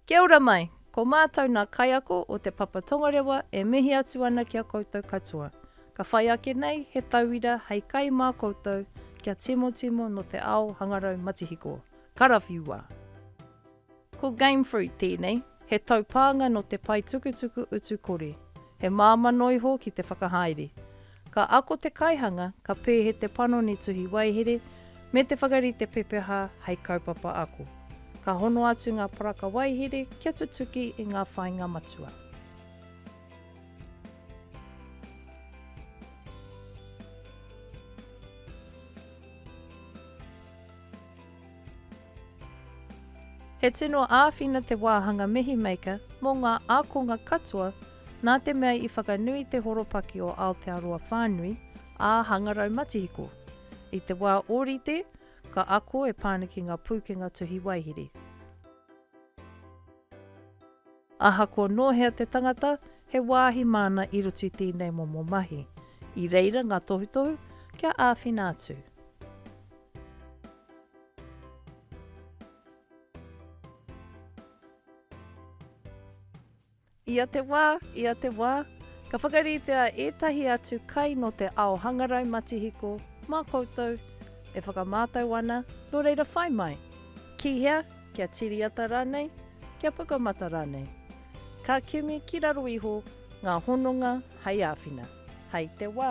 Kia ora mai! Ko mātou nā kaiako o Te Papa Tongarewa e mihi atu ana ki a koutou katoa. Ka whai ake nei he tauira hei kai mā koutou kia timotimo nō te ao hangarau matihiko. Karawhiua! Ko Game Fruit tēnei, he taupānga nō te paetukutuku utu kore. He māmano iho ki te whakahaere. Ka ako te kaihanga, ka pēhe te panoni tuhi waihere, me te whakarite pepeha hei kaupapa ako. Ka hono atu ngā paraka waihere kia tutuki i ngā whāinga matua. He tino āwhina te wāhanga Mihi Maker mō ngā ākonga katoa nā te mea i whakanui te horopaki o Aotearoa whānui ā-hangarau matihiko. I te wā ōrite, ka ako e Pāniki ngā pūkenga tuhi waihiri. Ahakoa nō hea te tangata, he wāhi māna i roto i tēnei momo mahi. I reira ngā tohutohu kia āwhina atu. Ia te wā, ia te wā, ka whakaritea ētahi atu kai nō te ao hangarau matihiko mā koutou e whakamātau ana, nō reira whai mai! Ki hea? kia tiriata rānei, kia pukamata rānei. Ka kimi ki raro iho ngā hononga hei āwhina, hei te wā.